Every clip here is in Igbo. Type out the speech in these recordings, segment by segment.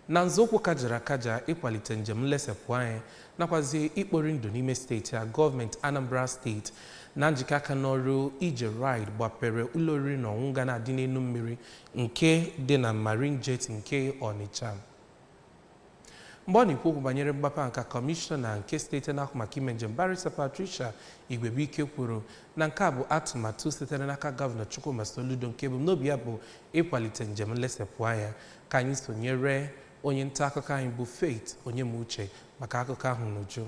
na nzọụkwụ kajara akaja ịkwalite njem nlesepụ anya nakwazi ikpori ndụ n'ime steeti a gọọmenti Anambra steeti na njikọ aka n'ọrụ ije ride gbapere ụlọ oriri na ọṅụṅụ ga na-adị n'elu mmiri nke dị na Marine Jet nke Ọnịcha mgbe ọ na-ekwu okwu banyere mgbape nke a kọmishọna nke steeti na-ahụ maka ime njem barista Patricia Igwebuike kwuru na nke a bụ atụmatụ sitere n'aka gọvanọ Chukwuma Soludo nke ebumnobi ya bụ ịkwalite njem nlesepụ anya Ka anyị sonyere onye nta akụkọ anyị bụ Faith Onyemuche maka akụkọ ahụ n'uju.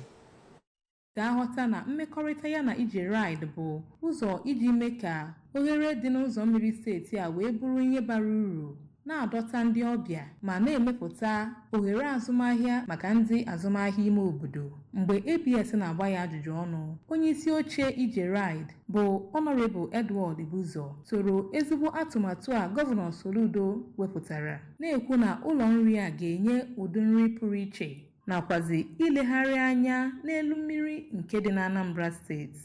ga-aghọta na mmekọrịta ya na ije ride bụ ụzọ iji mee ka oghere dị n'ụzọ mmiri steeti a wee bụrụ ihe bara uru na-adọta ndị ọbịa ma na-emepụta oghere azụmahịa maka ndị azụmahịa ime obodo mgbe abs na-agba ya ajụjụ ọnụ onye isi oche ije ride bụ Honorable Edward Ibuzo toro ezigbo atụmatụ a Gọvanọ Soludo wepụtara na-ekwu na ụlọ nri a ga-enye ụdị nri pụrụ iche nakwazi ilegharị anya n'elu mmiri nke dị n'Anambra steeti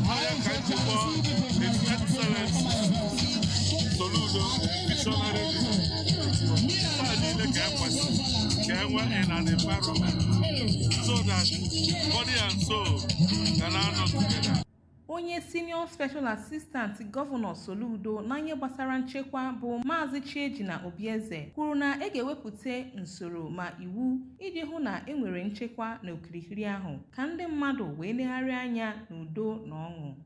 Higher Kaikubo, His Excellency Soludo, Missionary District. Taa niile ka e kwesịrị ka e nwee an environment so that body and soul ga na-anọ together. onye senior special assistant gọvanọ soludo na ihe gbasara nchekwa bụ maazị chiejina obieze kwuru na e ga-ewepụta usoro ma iwu iji hụ na e nwere nchekwa n'okirikiri ahụ ka ndị mmadụ wee legharịa anya n'udo na ọṅụ